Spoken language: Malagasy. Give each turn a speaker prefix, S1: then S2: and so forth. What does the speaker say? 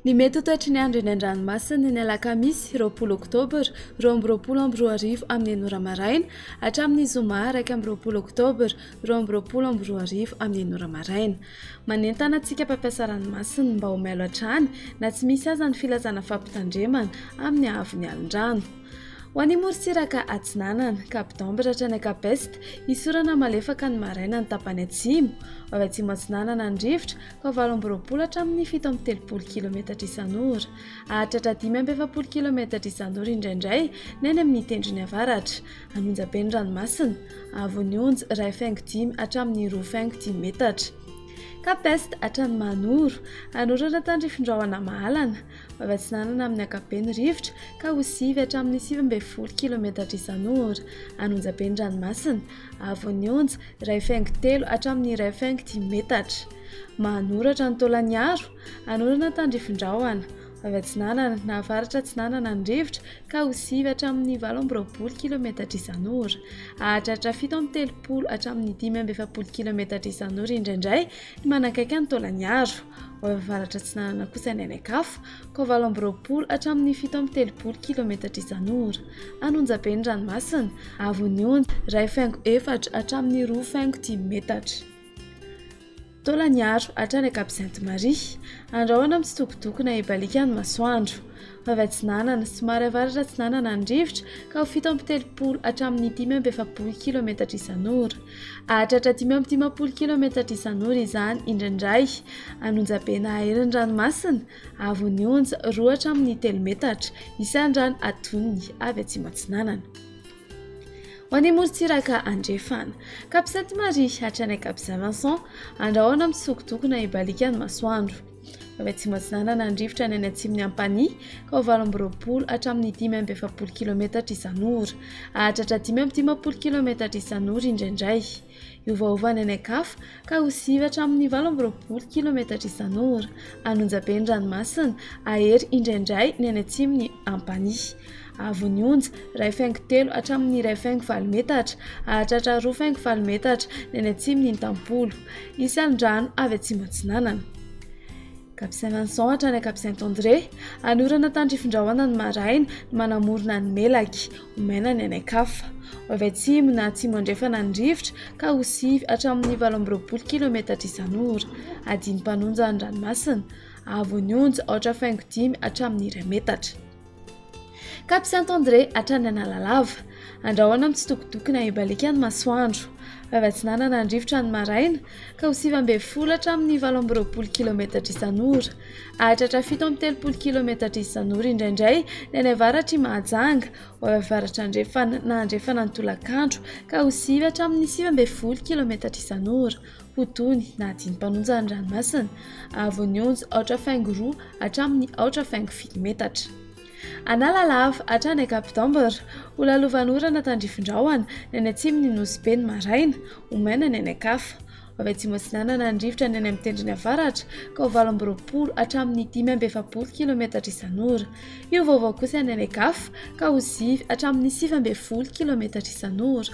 S1: Ny mety ho toetry ny andro eny an-dranomasina ny alakamisy roapolo oktobra roa amby roapolo amby roa arivo amin'ny enina ora maraina hatramin'ny zoma iraika amby roapolo oktobra roa amby roapolo amby roa arivo amin'ny enina ora maraina. Manentana antsika mpampiasa ranomasina mba ho mailo hatrany na tsy misy aza ny filazana fampitandremana amin'ny haavon'ny alin-drano. Ho any amorontsiraka atsinanana, Cap d'Ambre hatrany Cap Est, hisorana malefaka ny maraina ny tapany atsimo. Ho avy atsimo atsinanana ny rivotra, ka valo amby roapolo hatramin'ny fito amby telopolo kilometatra isan'ora. Hahatratra dimy amby efapolo kilometatra isan'ora indraindray ny any amin'ny tendrony avaratra. Hanonja be ny ranomasina, hahavon'ny onja iray faingo dimy hatramin'ny roa faingo dimy metatra. Cap Est hatrany Mahanoro, hanorana tandrifin-drahona mahalana. Afatsinanana amin'ny ankapobeny ny rivotra ka ho sivy hatramin'ny sivy ambin'ny folo kilaometatra isan'ora. Any Onjabe ny ranomasina. Avon'ny onja, iray faingo telo hatramin'ny iray faingo dimy metatra. Mahanoratra ny taolan'Iaro. Hanorana tandrifindrahona. Avy atsinanana na avaratra atsinanana ny rivotra ka ho sivy hatramin'ny valo amby roapolo kilaometatra isan'ora. Hahatratra fito amby telopolo hatramin'ny dimy amby efapolo kilaometatra isan'ora indraindray ny manakaiky ny taolan'Iaro. Ao amin'ny Avaratra Atsinanana kosa ny any an-kafa, koa valo amby roapolo hatramin'ny fito amby telopolo kilaometatra izany ora. An'Onjabe ny ranomasina, avon'ny Onja, iray faingo efatra hatramin'ny roa faingo dimy metatra. Taolan'Iaro hatrany ankabiaz'i Antimaria, andrahona mitsitokotoko na ibaliaka ny masoandro. avy atsinanana, somary avaratra atsinanana ny rivotra, ka ho fito amby telopolo hatramin'ny dimy amby efapolo kilaometatra isan'ora. Hahatratra dimy amby dimampolo kilaometatra isan'ora izany indraindray. An'Onjabe na Aeron'ny ranomasina, Avon'ny Onja, roa hatramin'ny telo metatra, isandrano adoniny avy atsimo-atsinanana. Ho any Morontsiraka Andrefana, Cap Sainte-Marie hatrany Cap Saint-Vincent, andrahona mitsokotokona ibalikan'ny masoandro. avy atsimo atsinanana ny rivotra ny any atsimon'ny ampanihy ka ho valo amby roapolo hatramin'ny dimy amby efapolo kilometatra isan'ora hahatratra dimy amby dimampolo kilometatra isan'ora indraindray hiovaova any any an-kafa ka ho sivy hatramin'ny valo amby roapolo kilometatra isan'ora anonjabe ny ranomasina ahery indraindray ny any atsimon'ny ampanihy Avo ny onja, iray faingo telo hatramin' ny iray faingo valo metatra, hahatratra roa faingo valo metatra ny any atsimon' i Ntampolo. Hisy alin-drano avy atsimo-atsinanana. Cap Saint-Vincent hatrany Cap Saint-André. Hanorana tandrifin-drahona ny maraina, ny manamorona ny melaky, ho maina ny any an-kafa. Ho avy atsimo na atsimo-andrefana ny rivotra, ka ho sivy hatramin' ny valo amby roapolo kilaometatra isan-ora. Adin-panonja ny ranomasina. Avo ny onja, aotra faingo dimy hatramin' ny iray metatra. Cap Saint André hatrany Analalava. Andrahoina amin'ny tsitokotokona ibaliaka ny masoandro. Vavy atsinanana ny rivotra ny maraina ka ho sivy ambin'ny folo hatramin'ny valo amby roapolo kilaometatra isan'ora. Hahatratra fito amby telopolo kilaometatra isan'ora indraindray ny any avaratr'i Mahajanga, ho avy avaratra andrefana na andrefana ny tolakandro ka ho sivy hatramin'ny sivy ambin'ny folo kilaometatra isan'ora. ho toy ny nahadin'ny mpanonja ny ranomasina, avo ny onja aotra faingo roa hatramin'ny aotra faingo fito metatra. Analalava hatrany Cap d'Ambre, ho lalovan'orana tandrifin-drahona ny any atsimon'ny Nosy Be ny maraina, ho maina ny any an-kafa. Ho avy atsimo atsinanana ny rivotra ny any amin'ny tendrony avaratra, ka ho valo amby roapolo hatramin'ny dimy amby efapolo kilaometatra isan'ora. Hiova-hiova kosa ny any an-kafa, ka ho sivy hatramin'ny sivy ambin'ny folo kilaometatra isan'ora.